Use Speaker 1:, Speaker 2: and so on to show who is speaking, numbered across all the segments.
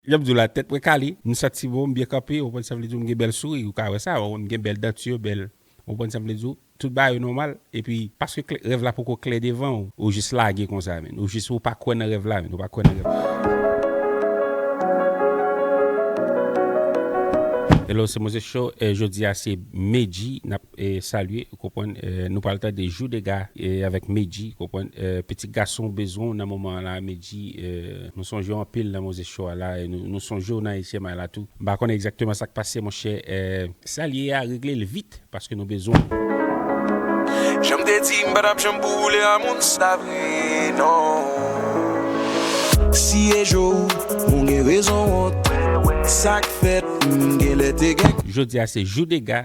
Speaker 1: Janm diw la tèt mwen kale, m santi bon, m byen kanpe, ou konprann sa m vle diw, m gen bèl souri, ou ka wè sa, m gen bèl denture, bèl, ou konprann sa m vle diw, tout bagay yo nòmal, epi paske klè, rèv la poko klè devanw, ou jis lage konsa menn, ou jis ou pa kwè nan rèv la menn, ou pa kwè nan rèv la. Hello se Moses Show, jodi a se Medji nap. Salye ou konprann nou pral tande jou dega avèk medji ou konprann pitit gason bezwen w nan moman an la medji nou sonje w anpil nan moze cho a la nou sonje w nan etye may la tou m pa konnen egzakteman sak pase monchè. Salye a regle l vit paske nou bezwen l.
Speaker 2: Janm te di m pa tap janm pou ou le a moun sa vre non. Si e jo ou gen rezon wont sak fèt m genlè te gen.
Speaker 1: Jodi a se jou dega.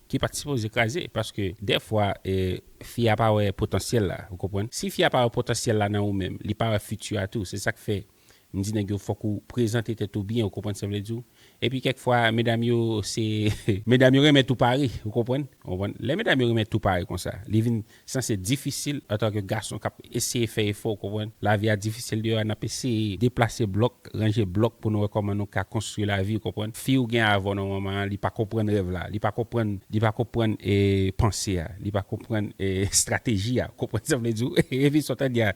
Speaker 1: Ki pat sipoze kraze paske dèfwa fi a pa wè potansyèl la ou konprann si fi a pa wè potansyèl la nan ou menm li pa wè fiti a tou se sak fè m di nèg yo fòk ou prezante tèt ou byen ou konprann sa m vle di w epi kèk fwa medam yo se medam yo renmen tou pare ou konprann lè medam yo renmen tou pare konsa li vin Sanse difisil antanke gason k ap eseye fè efò, ou konprann. Lavi a difisil deyò a, n ap eseye deplase blòk, ranje blòk pou nou wè kòman nou ka konstwi lavi, ou konprann. Fi ou gen avè w nan moman an, li pa konprann rèv la, li pa konprann, li pa konprann panse a, li pa konprann estrateji a, ou konprann sa m vle di w? Epi sa w tande a,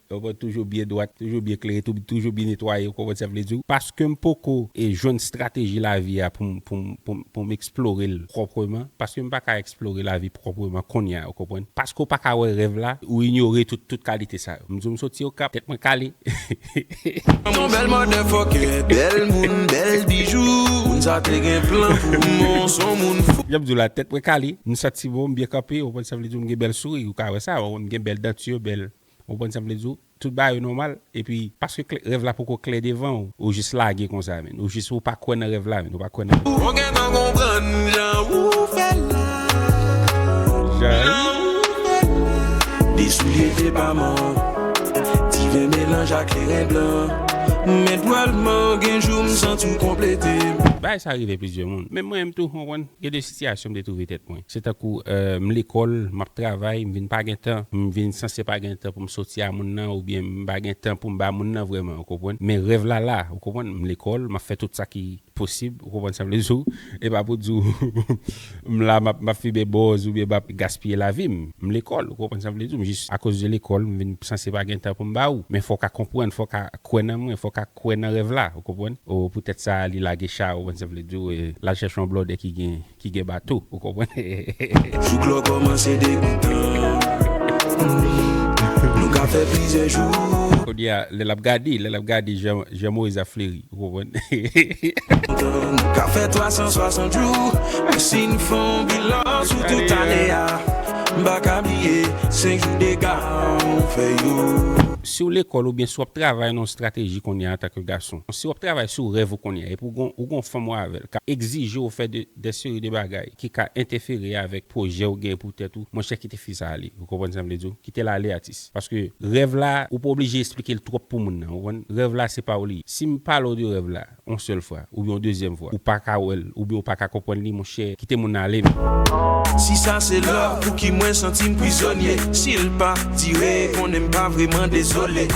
Speaker 1: Ou konprann toujou byen dwat, toujou byen klere, toujou byen netwaye ou konprann sa vle di. Paskem poko jwenn strateji lavi a poum poum poum poum eksplorel pwopreman, paskem paka eksplore lavi pwopreman konnya ou konprann. Paske ou paka wè rèv la, ou inyore tout tout kalite sa yo. Mdiw msoti okap, tèt mwen kale heheheh.
Speaker 2: Yon bèl motherfucker bèl moun bèl bijou moun sa te gen plan pou mwen w son moun fou. Janm diw la tèt mwen kale,
Speaker 1: msanti bon mbyen kanpe ou konprann sa vle di mgen bèl souri ou ka wè sa, mgen bèl danture bèl. Ou konprann sa m vle di w? Tout bagay yo nòmal, epi paske klè, rèv la poko klè devan w, ou jis lage konsa menn. Ou jis, ou pa kwè nan rèv la menn, ou pa kwè nan rèv la. Ou gentan konprann
Speaker 2: jan ou fè l la. Jan ou fè l la. De soulye depaman. Ti ven melanj a kleren blan. M etwal m an, gen jou m santi w konplete m. Bagay sa rive
Speaker 1: plizyè moun. Menm mwen menm tou, ou konprann. Gen de sitiyasyon m te twouve tèt mwen. Se tankou m lekòl, m ap travay, m vin pa gen tan, m vin sanse pa gen tan pou m soti a moun nan oubyen m pa gen tan pou m ba moun nan vrèman, ou konprann. Men rèv la la, ou konprann. M lekòl, m ap fè tout sa ki posib, ou konprann sa m vle di w. E pa pou di w m la m ap m ap fimen bòz oubyen m ap gaspiye lavi m. M lekòl, ou konprann sa m vle di w. M jis akoz de lekòl m vin sanse pa gen tan pou m ba ou. Men fò w ka konprann, fò w ka kwè nan mwen, fò w ka. kwè nan rèv la ou konprann o poutèt sa li lage cha ou konprann sa mvle diw e lal chèche yon blòdè ki gen ki gen bato ou konprann e. Jouk lò
Speaker 2: kòmanse depi tan nou ka fè plizyè jou. Kounye a lè lap
Speaker 1: gade lè lap gade jan jan moyiz ap fleri ou konprann e.
Speaker 2: Nou ka fè 360 jou men si n fè yon bilan sou tout ane a m paka bliye 5 jou dega ou fè yo. Si w lekòl oubyen
Speaker 1: si w ap travay nan yon strateji kounye a antanke gason, si w ap travay sou rèv ou kounye a epi w gen yon fanm ou avè l k ap egzije w fè de seri de bagay ki ka entèfere avèk pwojè ou genyen pou tèt ou, monchè kite fi sa ale. Ou konprann sa m vle di w? Kite l ale atis. Paske rèv la ou pa oblije esplike l twòp pou moun nan, ou konprann? Rèv la se pa w li ye. Si m pale w de rèv la. Yon sèl fwa, oubyen yon dezyèm fwa. Ou pa ka wè l, oubyen ou pa ka konprann li, monchè, kite moun nan ale non. Si sa
Speaker 2: se love pouki mwen santi m prizonye Si l pa dire konnen m pa vreman dezole.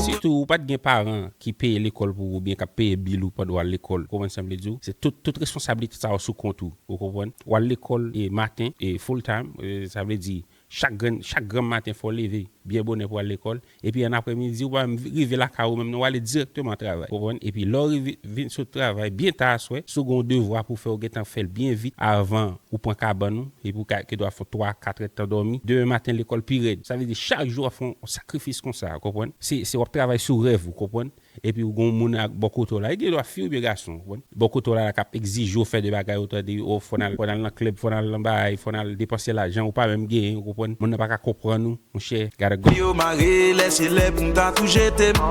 Speaker 2: Sitou ou pa t
Speaker 1: gen paran ki peye lekòl pou ou oubyen k ap peye bil ou pandan w al lekòl. Ou konprann sa m vle di w? Se tout, tout responsablite sa yo sou kont ou. Ou konprann? W al lekòl e maten e full time, sa vle di Chak grenn, chak granm maten fò w leve byen bonè pou w al lekòl, epi an aprè midi ou pa menm rive lakay ou menm non, w ale dirèkteman travay. Ou konprann? Epi lè w rive vin sot travay byen ta aswè, si w gen yon devwa pou w fè ou gen tan fè l byen vit avan ou pran kabann ou, epi ou ka gen dwa fè yon 3, 4 èdtan dòmi, demen maten lekòl pi rèd. Sa vle di chak jou w ap fè yon sakrifis konsa, ou konprann? Se, se w ap travay sou rèv ou, konprann? Epi ou gen yon moun ak bò kote w la, li gen dwa fi oubyen gason, ou konprann, bò kote w la k ap egzije w fè de bagay ou tande, o fò n al, fò n al nan klèb, fò n al nan baay, fò n al depanse lajan ou pa menm genyen, ou konprann, moun nan pa ka konprann ou, monchè, gade gòm. Yo mare
Speaker 2: lè se lè pou m ta tou jete m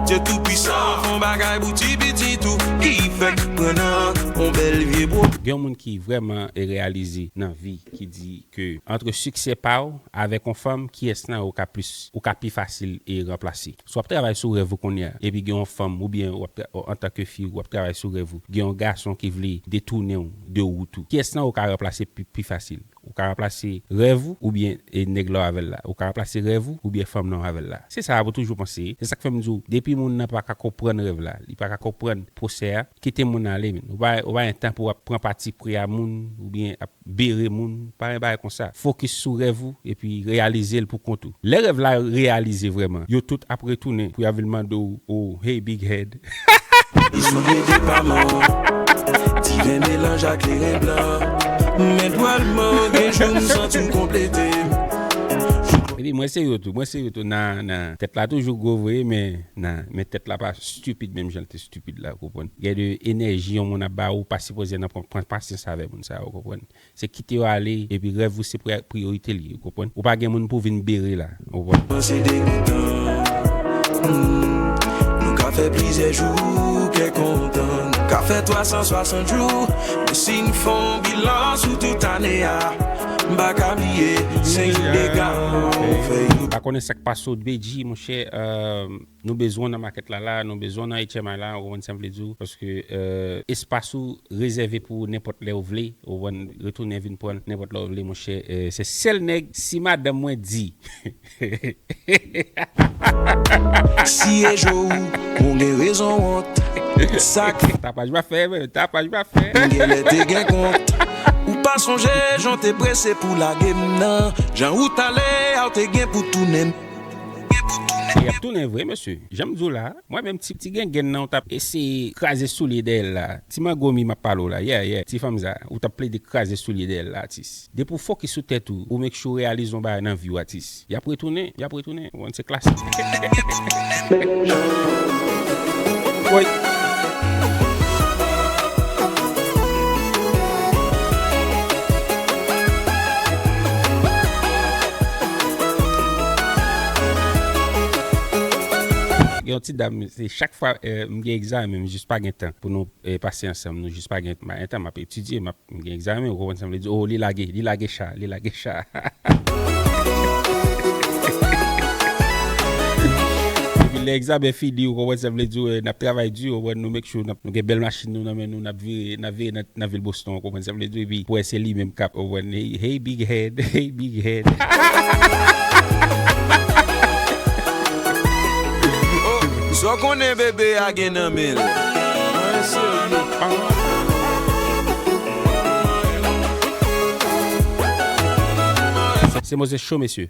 Speaker 2: Dye tou pwisan an fon bagay pou ti pitit ou Ki fèk pran nan yon bèl vye bro. Gen yon moun ki vrèman
Speaker 1: reyalize nan vi ki di ke antre siksè pa w avèk yon fanm kiyès nan yo k ap plis ou ka pi fasil e ranplase? Si w ap travay sou rèv ou kounye a epi gen yon fanm oubyen w ap antanke fi w ap travay sou rèv ou gen yon gason ki vle detounen w de wout ou pyès lan ou ka ranplase pi fasil ou ka ranplase rèv ou oubyen nèg la w avè l la ou ka ranplase rèv ou oubyen fanm lan w avè l la se sa ou toujou panse se sa k fè m di w depi moun nan pa ka konprann rèv la li pa ka konprann pwosè a kite moun nan ale menn ou pa gen tan pou w ap pran pati pri a moun oubyen ap Bere moun, pa yon bagay konsa. Fokis sou rèv ou epi reyalize l pou kont ou. Lè rèv la reyalize vrèman, yo tout ap retounen pou y a vin mande w oh hey big head hahaha. Li
Speaker 2: soude depaman, ti ven melanj a kleren blan Men pwal man gen jou m santi m konplete
Speaker 1: m. Epi mwen se yo tou, mwen se yo tou na na Tèt la toujou gwo vre men na men tèt la pa stupid menm jan l te stupid la ou konprann. Gen de enèji yon moun ap ba ou pa sipoze nan pran pasyans avè moun. sa yo konprann se kite yo ale epi rèv ou se priyorite li ou konprann ou pa gen moun pou vin bere la ou konprann. Nan se degoutan
Speaker 2: humm Nou ka fè plizyè jou kè kontan Nou ka fè 360 jou Men si n fè yon bilan sou tout ane a M pa ka bliye se yon dega ou fè yo.
Speaker 1: M pa konnen sak pase w Dbeji monchè. Nou bezwen w nan makèt la la, nou bezwen w nan HMI la, ou konprann sa m vle di w, paske espas ou rezève pou ou nenpòt lè ou vle, ou konprann, retounen vin pran l nenpòt lè ou vle monchè, se sèl nèg si madanm mwen di
Speaker 2: Siyejo ou, ou gen rezon wont, sa k. Tapaj m ap fè,
Speaker 1: men, tapaj m ap fè. M
Speaker 2: genlè te gen kont. Ou pa sonje jan w te prese pou w lage m nan, jan ou t ale a, ou te gen pou w tounen m.
Speaker 1: Li ap tounen vre mesye. Janm diw la, mwen menm ti ti gengenn nan ou tap eseye kraze soulye dèyèl la, ti magomi map pale w la, yeah yeah ti fanm sa, ou tap plede kraze soulye dèyèl la atis. Depi w fokis sou tèt ou, ou make sure w reyalize yon bagay nan viw atis. Yap retounen, yap retounen, ou konn se klasik. Gen yon ti dam se chak fwa m gen egzamen m jis pa gen tan pou nou pase ansanm nou jis pa gen entan m ap etidye m ap m gen egzamen ou konprann sa m vle di oo li lage li lage cha li lage cha epi lè egzamen fini ou konprann sa m vle di ou konprann n ap travay di ou konprann nou make sure nou gen bèl machin nou nan men nou. N ap vire, n ap vire nan vil Boston ou konprann sa m vle di w epi pou wè se li menm k ap Hey big head, hey big head.
Speaker 2: Sa w konnen bebe a gen nan men l? Mwen serye an.
Speaker 1: Se mozes cho mesye.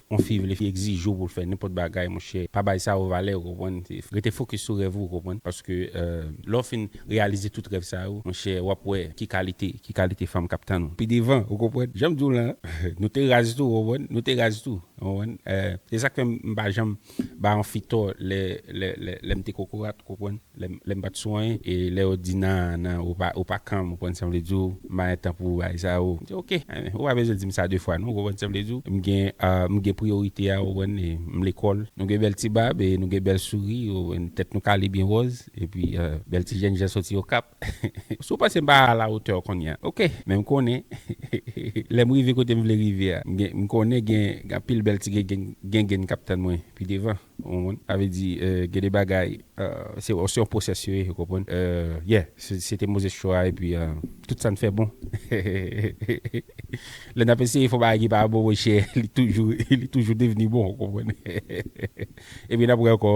Speaker 1: Yon fi vle fi egzije w pou l fè nenpòt bagay monchè pa bay sa yo valè ou konprann rete fokis sou rèv ou konprann paske lè w fin reyalize tout rèv sa yo monchè w ap wè ki kalite ki kalite fanm k ap tann ou pi devan ou konprann jan m di w lan nou te raz tou ou konprann nou te raz tou ou konprann se sa k fè m pa janm bay yon fi tò lè lè m te kokorat ou konprann. Lè m pa t sou anyen e lè yo di nan nan ou pa kanm ou konprann sa m vle di w m pa gen tan pou bagay sa yo m di ok ou pa bezwen di m sa de fwa non ou konprann sa m vle di w m gen m gen priyorite a ou konprann e m lekòl nou gen bèl ti bab e nou gen bèl souri ou konprann tèt nou kale byen wòz epi bèl ti jèn jan soti okap si w panse m pa a la otè w kounye a ok men m konnen lè m rive kote m vle rive a m gen m konnen gen anpil bèl ti gengenn k ap tann mwen pi devan. Ou konprann? Sa vle di gen de bagay se yon process yo ye ou konprann? Yeah se te Moses Cho a epi tout sa n fè bon lè n ap eseye fè yon bagay ki pa bon monchè li toujou li toujou devni bon ou konprann? Epi n ap re ankò.